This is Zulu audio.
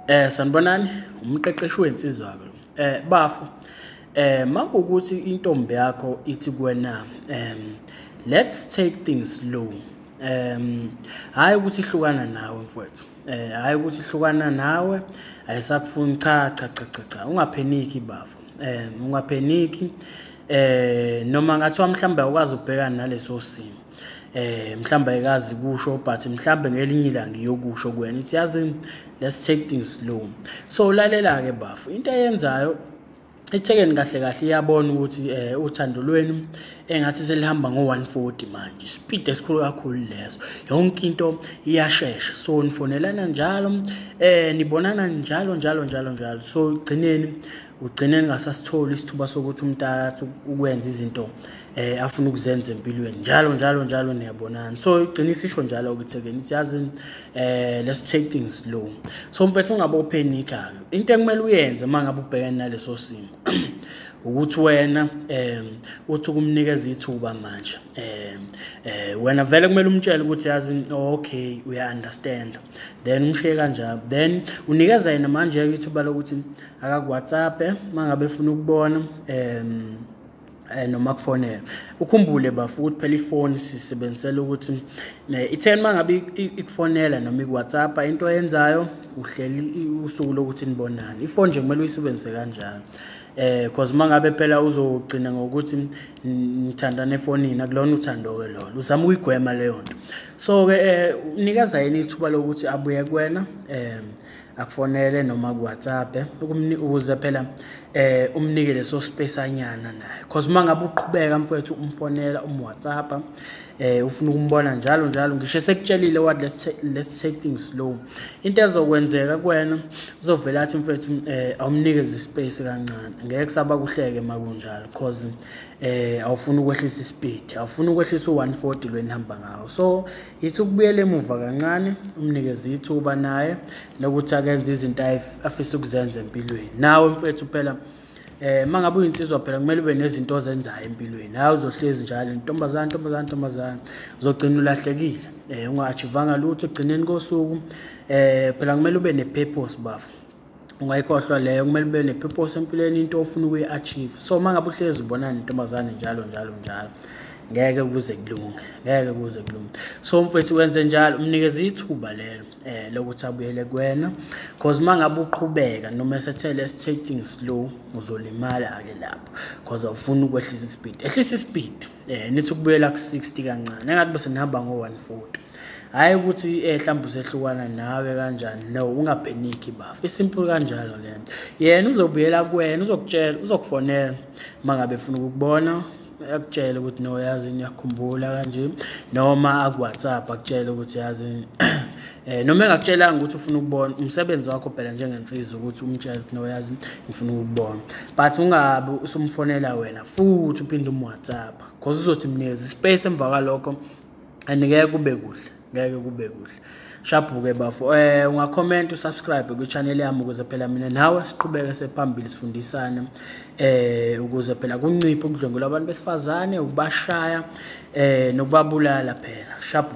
Eh sanibonani umqeqeshi wensizwa ke. Eh bafo eh makukuthi intombi yakho ithi kuwena um let's take things slow um hayi ukuthi ihlukana nawe mfowethu eh hayi ukuthi hlukana nawe ayisakufuni cha cha cha cha cha ungapheniki bafo eh ungapheniki eh noma ngathiwa mhlawumbe awukwazi ukubhekana naleso simo eh mhlawumbe ayikazi kusho but mhlawumbe ngelinye ilanga iyokusho kuyena ithi yazi let's take things slow so lalela ke bafo into ayenzayo ithekeni kahle kahle iyabona ukuthi um uthando lwenu engathi selihamba ngo-one forty manje ispeed esikhulu kakhulu leso yonke into iyashesha so nifonelana njalo um nibonana njalo njalo njalo njalo so gcineni ugcine ningasasitholi isithuba sokuthi umntakathu ukwenza izinto eh afuna ukuzenza empilweni njalo njalo njalo niyabonana so igcina isisho njalo ukuthi again ithi yazi eh let's take things slow so mfethu ungabe uphenika into ekumele uyenze uma ngabe ubhekene naleso simo ukuthi wena um uthi ukumnikeza ithuba manje um um wena vele kumele umtshele ukuthi yazi okay uya-understanda then umshiye kanjalo then unikeza yena manje-ke ithuba lokuthi akakuwhatsappe uma ngabe efuna ukubona um eh noma kufonela ukhumbule bafu ukuthi phela ifoni sisebenzisela ukuthi itheni mangabe ikufonela noma iwhatsapp into oyenzayo uhleli usuku lokuthi nibonane ifoni nje kumele uyisebenzise kanjalo eh because mangabe phela uzogcina ngokuthi nithandana efonini akulona uthando ke lolo uzama ukuyigwema leyo nto so ke eh unikeza yini ithuba lokuthi abuye kuwena eh akufonele noma kuwhatsapp ukuze phela eh umnike leso space anyana naye cause uma ngabe uqhubeka mfowethu umfonela umwhatsapp eh ufuna ukumbona njalo njalo ngisho sekutshelile what let's take, let's take things slow into ezokwenzeka kuwena uzovela athi mfowethu eh awumnikeze ispace kancane ngeke kusaba kuhleke makunjalo cause eh awufuni ukwehlisa ispeed awufuni ukwehlisa u140 lwenihamba ngawo so yithi ukubuyela emuva kancane umnikeze ithuba naye lokuthi akenze izinto afisa ukuzenza empilweni nawe mfethu phela eh mangabe uyinsizwa phela kumele ube nezinto ozenzayo empilweni hayi uzohlezi njalo intombazana intombazana intombazana uzogcina ulahlekile eh unga-achivanga lutho ekugcineni kosuku eh phela kumele ube ne-purpose bafo ungayikhohlwa leyo kumele ube ne-purpose empilweni into ofuna ukuyi-achieve so uma ngabe uhlezi ubonana nentombazane njalo njalo njalo ngeke kuze kulunge ngeke kuze kulunge so mfethu wenze njalo umnikeze ithuba lelo eh lokuthi abuyele kwena because mangabe uqhubeka noma esethe let's take things slow uzolimala ke lapho because awufuni ukwehlisa ispeed ehlisa ispeed eh nithi ukubuyela ku 60 kancane engathi bese nihamba ngo 140 hayi ukuthi eh mhlawumbe usehlukana nawe kanjani no ungapheniki bafu isimple kanjalo lento yena uzobuyela kuwena uzokutshela uzokufonela mangabe ufuna ukubona akutshele ukuthi no yazi ngiyakhumbula kanje noma aku WhatsApp akutshele ukuthi yazi Eh noma engakutshelanga ukuthi ufuna ukubona umsebenzi wakho phela njengensizwa ukuthi umtshele ukuthi noyazi ngifuna ukubona. But ungabe usumfonela wena futhi uphinde um WhatsApp because uzothi mnikeza ispace emva kwalokho and ngeke kube kuhle ngeke kube kuhle shabhuke bafo eh ungakhomenta usubscribe kwichannel yami ukuze phela mina nawe siqhubeke sephambili sifundisane eh ukuze phela kunciphe ukudlwengula abantu besifazane ukubashaya eh nokubabulala phela shabu